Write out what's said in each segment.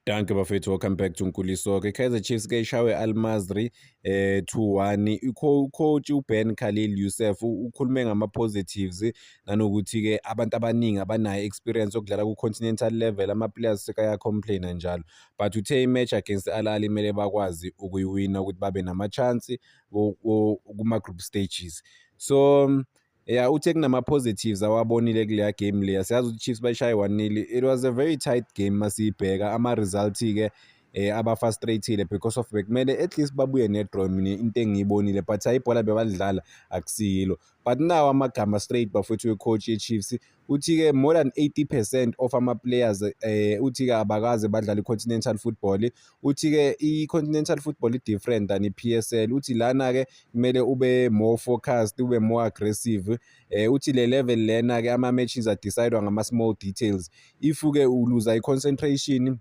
Danke bafethu welcome back to Nkuliso ke Kaizer Chiefs ke ishawe Al Masry eh 2-1 ikho coach uBen Khalil Youssef ukhulume ngama positives nanokuthi ke abantu abaningi abanayo experience yokudlala ku continental level ama players sekaya complain njalo but uthe i match against Al Ahly mele bakwazi ukuyiwina ukuthi babe nama chance kuma group stages so Yeah, uthe kunama-positives awabonile kuleya game leya siyazi ukuthi chiefs bayishaye one-nil it was a very tight game masiyibheka ama-result-ke eh abafrustrated because of bekumele at least babuye ne-draw mina into engiyibonile but hayi ibhola bebalidlala akusiyilo but nawo amagama straight bafowethu we-coach ye-chiefs Uthi-ke more than 80 percent of ama-players eh, uthi-ke abakaze badlala i-continental football. Uthi-ke i-continental football i-different than i-PSL. Uthi lana-ke kumele ube more focused, ube more aggressive. Eh, uthi le level lena-ke ama-matches adecidwa ngama-small details. If-ke uluza i-concentration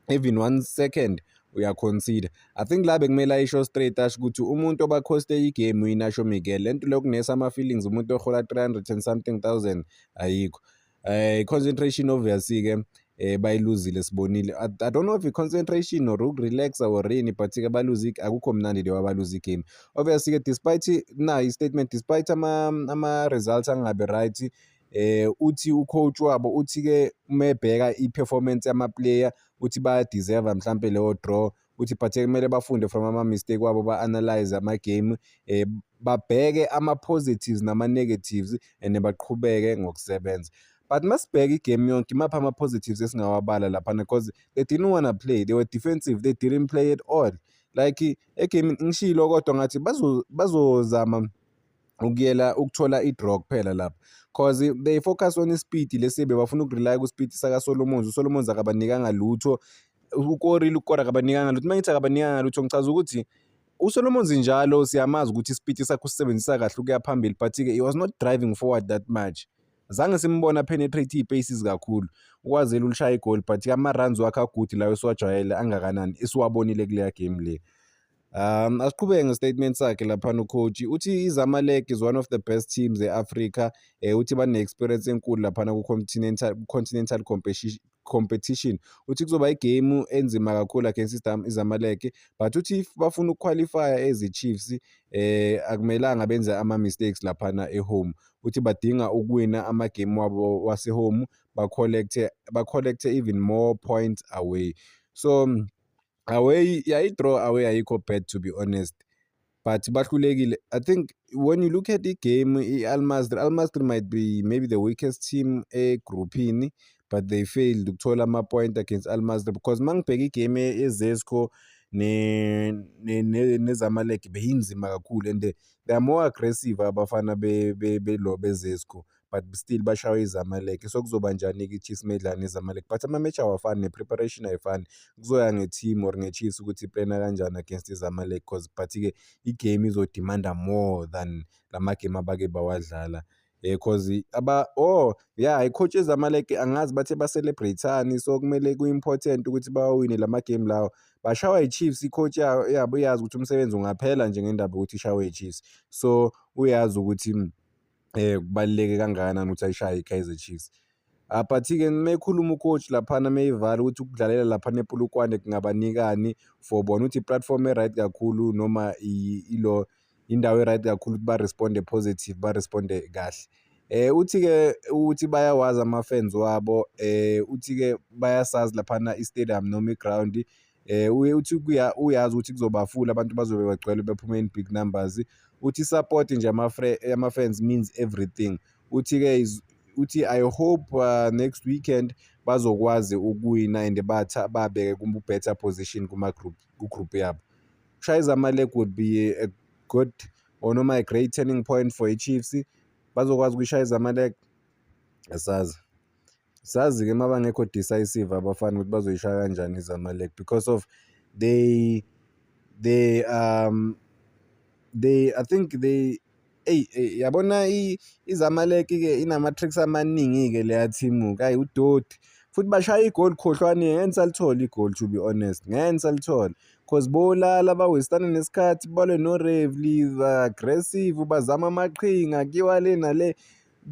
even one second uyaconsider i think la bekumele ayisho straight asho ukuthi umuntu obakhoste igame uyinasho miguel le nto lokunesa ama-feelings umuntu ohola 300 and something thousand ayikho um concentration obviously-ke um eh, bayiluzile sibonile I, i don't know if i-concentration or ukurelaxa or rini but-ke baluze akukho mnandi leyo abaluze igame obviously-ke despite na i-statement despite ama-results ama angabi right Eh uthi ucoach wabo uthi ke uma ebheka iperformance yamaplayer uthi baya deserve mhlambe leyo draw uthi but kumele bafunde from ama mistake wabo ba analyze ama game eh babheke ama positives nama negatives and baqhubeke ngokusebenza but masibheka igame yonke imaphi ama positives esingawabala lapha because they didn't wanna play they were defensive they didn't play at all like egame ngishilo kodwa ngathi bazozama bazo ukuyela ukuthola i-draw kuphela lapha cause they focus on i-speed lesibe bafuna ukurelya ku-speed sakasolomons usolomons akabanikanga lutho ukoril ukora akabanikanga lutho uma ngithi akabanikanga lutho ngichaza ukuthi usolomons njalo siyamazi ukuthi i-speed sakhe usisebenzisa kahle ukuya phambili but-ke he was not driving forward that much zange simbona penetrate iy'paces kakhulu ukwazela ulushaye igoli but-ke ama-runs wakhe agude lawo esiwajwayele angakanani esiwabonile kuleya game le Um asiqhubeke ngestatement sakhe laphana ucoach uthi izamalek is one of the best teams e-africa um uthi bane-experience enkulu laphana ku-continental continental competition uthi kuzoba igemu enzima kakhulu against izamalek but uthi if bafuna ukuqualifya ezi-chiefs um akumelanga benze ama-mistakes laphana ehome uthi badinga ukuwina amagemu wabo wasehome bacollecte even more points away so away yayi-draw away ayikho bad to be honest but bahlulekile i think when you look at i-game i-almasri almasri might be maybe the weakest team egruphini but they failed ukuthola ama-point against almasri because uma ngibheka igame yezesco nezamalek beyinzima kakhulu and they are more aggressive abafana bezesco but still bashawe izamalek so kuzoba njani-ke i-chiefs medlane izamalek but ama-match awafani ne-preparation ayifani kuzoya nge-team or nge-chiefs ukuthi iplana kanjani against izamalek because but-ke i-game izodimanda more than la magame abake bawadlala eh cause aba oh yeah i-coach ezamalek angazi bathe ba-celebrate-ani so kumele ku-important ukuthi bawawine la magame lawo bashawa i-chiefs i-coach yabo iyazi ukuthi umsebenzi ungaphela nje ngendaba yokuthi ishawe i-chiefs so uyazi ukuthi eh kubaluleke kangakanani ukuthi ayishaye iKaizer Chiefs ah, but-ke mekhuluma ucoach laphana meyivala ukuthi ukudlalela laphana epulukwane kungabanikani for bona ukuthi i-platform e-right kakhulu noma ilo indawo e-right kakhulu ukuthi ba-responde positive ba-responde kahle Eh uthi-ke ukuthi bayawazi ama-fans wabo eh uthi-ke bayasazi laphana i-stadium noma i-ground um uye uthi uyazi ukuthi kuzobafula abantu bazobe bagcwele bephume in big numbers uthi i-support nje ama-fans means everything uthi-ke uthi i hope uh, next weekend bazokwazi ukuwina and batha babeke ku-better position kuma-group ku-group yabo ushaya izamalek would be a good or noma a great turning point for i-chiefs bazokwazi ukuyishaya izamalek asazi Sazi-ke uma bangekho decisive abafana ukuthi bazoyishaya kanjani izamalek because of they they um they i think they eyi eyi yabona izamaleki-ke inama-tricks amaningi-ke leya thimu-ke ayi udoti futhi bashaya igoli khohlwani ngeke nisalithole igoli to be honest ngeke nisalithole cause bolala bawestana nesikhathi balwe no-revely aggressive bazama amaqhinga kiwa le nale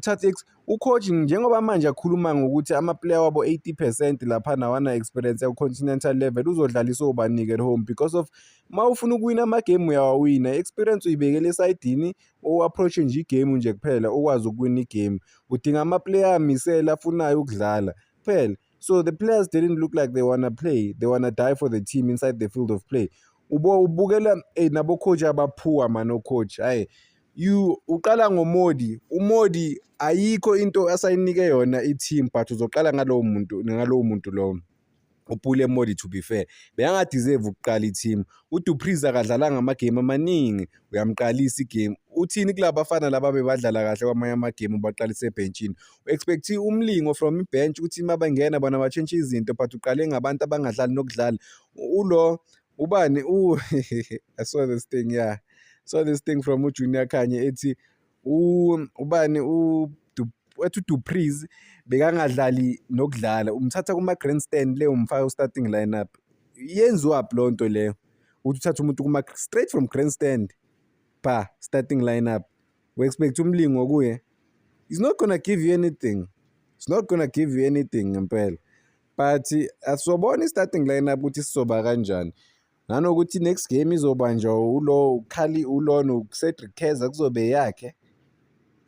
Thatix ucoach njengoba manje akhuluma ngokuthi amaplayer wabo 80 percent lapha nawana experience yaku-continental level uzodlalisa obanike at home because of uma ufuna ukuwina amagemu uyawawina i-experience uyibekele esayidini u-approach-e nje igemu nje kuphela ukwazi ukuwina igemu udinga amaplayer amisele afunayo ukudlala kuphela so the players didn't look like they wanna play they wanna die for the team inside the field of play ubukela hey, nabocoach abaphuwa mani ocoach hhayi you uqala ngomodi umodi ayikho into asayinike yona i-team but uzoqala ngalowo muntu ngalowo muntu lowo uphule modi to be fair beyangadeserve ukuqala i-team udupriz akadlalanga amagame amaningi uyamqalisa igame uthini kulaba bafana laba bebadlala kahle kwamanye amagame ubaqalise ebhentshini expect umlingo from ibench ukuthi uma bengena bona batshintshe izinto but uqale ngabantu abangadlali nokudlala ulo ubani u I saw this thing yeah saw this thing from uJunior Khanye ethi ubani u ethi uDupreez bekangadlali nokudlala umthatha kuma grandstand leyo umfaka u starting lineup yenziwa lo nto leyo ukuthi uthatha umuntu kuma straight from grandstand ba starting lineup We expect umlingo kuye. He's not gonna give you anything. He's not gonna give you anything ngempela. But asobona i-starting lineup ukuthi sizoba kanjani. Nanokuthi next game izobanjwa ulo ukhali ulona uCedric Keza kuzobe yakhe.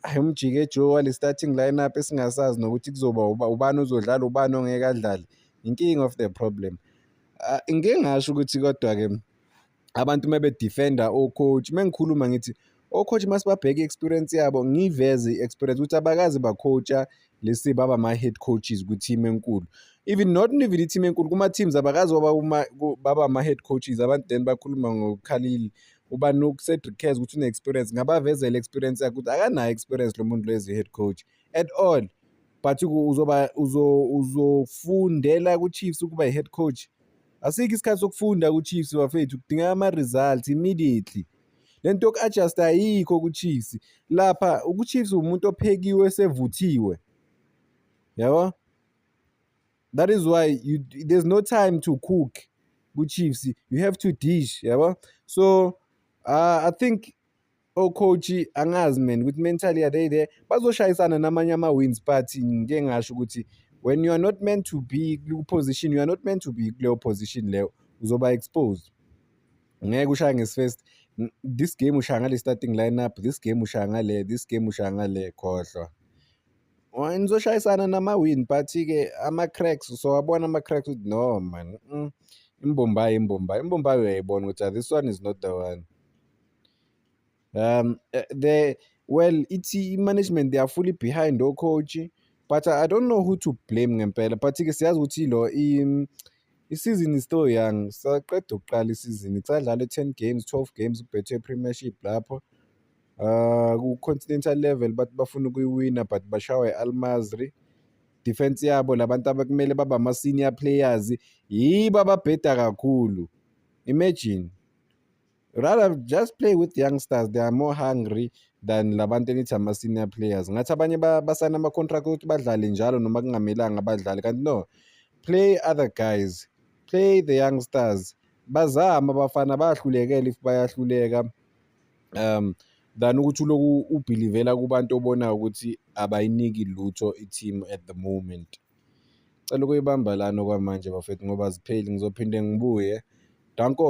Ayi umjike Joe wale starting lineup esingasazi nokuthi kuzoba ubani uzodlala ubani ongeke adlale. Inking of the problem. Ah, ngike ngasho ukuthi kodwa-ke abantu uma bedefenda o-coach uma ngikhuluma ngithi o-coach uma sibabheke i-experience yabo ngiyiveze i-experience ukuthi abakaze bacoacha lesi baba ama-head coaches kwi-team enkulu even not even i-team enkulu kuma-teams abakazi baba ama-head coaches abantu then bakhuluma ngokhalile ubani ucedric cares ukuthi une-experience ngabavezela i-experience yakhe ukuthi akanayo experience lo muntu lezi head coach at all but uzoba uzofundela ku-chiefs ukuba i-head coach Asikho isikhathi sokufunda kuChiefs bafethu kudingeka ama results immediately. Lento yoku adjust ayikho kuChiefs. Lapha uChiefs umuntu ophekiwe sevuthiwe. Yabo? That is why you, there's no time to cook kuChiefs. You have to dish, yabo? So uh, I think ocoach angazi man ukuthi mentally are they there bazoshayisana namanye ama-wins but ngike ngasho ukuthi when you are not meant to be ku-position you are not meant to be kuleyo position leyo uzoba exposed ngeke ushaya ngesifirst this game ushaya ngale starting lineup this game ushaya ngale this game ushaya ngale khohlwa nizoshayisana nama-win but-ke ama-cracks sowabona ama-cracks ukuthi no man mm, imbombayi imbombayi imbombayi uyayibona ukuthi ah, this one is not the one Um, eh, they well, it's management. They are fully behind our coach, but I don't know who to blame ngempela. But ke siyazi ukuthi lo i season is still young. Saqeda ukuqala isizini. Sadlale 10 games, 12 games kubhethe Premiership lapho. Uh, ku-continental level bathi bafuna ukuyiwina but bashawa i-al masri defense yabo labantu abakumele baba ama-senior players yibo ababheda kakhulu imagine rather just play with youngsters they are more hungry than labantu enithi ama-senior players ngathi abanye basayina ama-contract ukuthi badlale njalo noma kungamelanga badlale kanti no play other guys play the youngsters bazama abafana bayahlulekela if bayahluleka um than ukuthi uloku ubhilivela kubantu obonayo ukuthi abayiniki lutho i-team at the moment Cela ukuyibamba lana okwamanje bafethu ngoba zipheli ngizophinde ngibuye. Danko.